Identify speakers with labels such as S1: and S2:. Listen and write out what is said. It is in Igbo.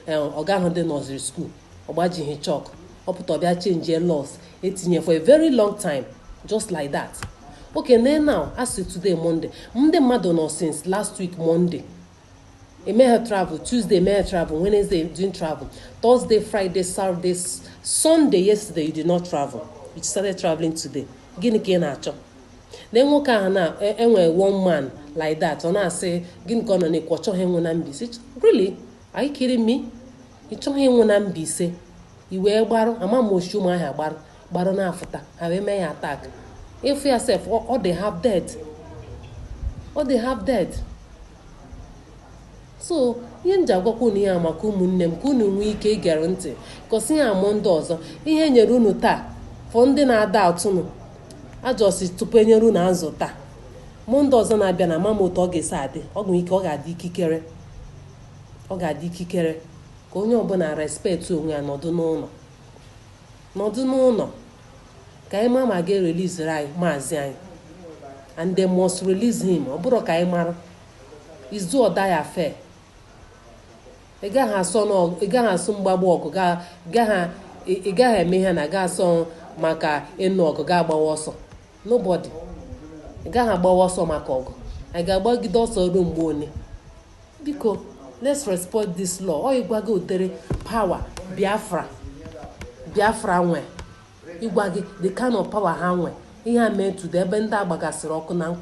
S1: eh, ọ gaghịdị nursery school ọ gbajighị chalk ọ pụta ọ bịa changie laws e tinye for a very long time just like that okay nee now a sị today monday ndị mmadụ nọ since last week monday emeghị travel tuesday emeghị travel wednesday you didn't travel thursday friday saturday sunday yesterday you did not travel you started traveling today gịnị ka ị na-achọ na nwoke a na e, e nwe one man like that ọ na-asị gịnị ka ọ nọ na-ekwu ọ chọghị ịnwụ na Mbaise really are you kidding me ị chọghị ịnwụ na Mbaise i wee gbarụ ama m o si Ụmụahịa gbarụ gbarụ na-afụta ha wee mee ya attack ị fụ ya sef ọ dị half dead ọ dị half dead so ihe m ji agwakwa unu ihe a maka ụmụnne m ka unu nwee ike igere ntị 'cause ihe a Monday ọzọ ihe e nyere unu taa for ndị na-ada atụnụ ajọsi tupu e nyere unu azụ taa Monday ọzọ na-abịa na ama m otu ọ ga-esi adị ọ nwere ike ọ ga-adị ikikere ọ ga-adị ikikere ka onye ọbụla respect onwe ya nọdụ n'ụlọ nọdụ n'ụlọ ka anyị mara ma a ga-ereleasiri anyị maazị anyị and they must release him ọ bụrụ ka anyị mara it's do or die affair ị gaghị asọ n'ọgụ ị gaghị asọ mgbagbu ọgụ ga- gaghị ị- ị gaghị eme ihe na ga-asọ maka ịnụ ọgụ ga-agbawa ọsọ nobody ị gaghị agbawa ọsọ maka ọgụ anyị ga-agbagide ọsọ ruo mgbe ole Biko, let's respect this law. Ọ ịgwa gị ụdịrị power Biafra Biafra nwe ịgwa gị the kind of power ha nwe ihe a mee today ebe ndị a gbagasịrị ọkụ na nkwụ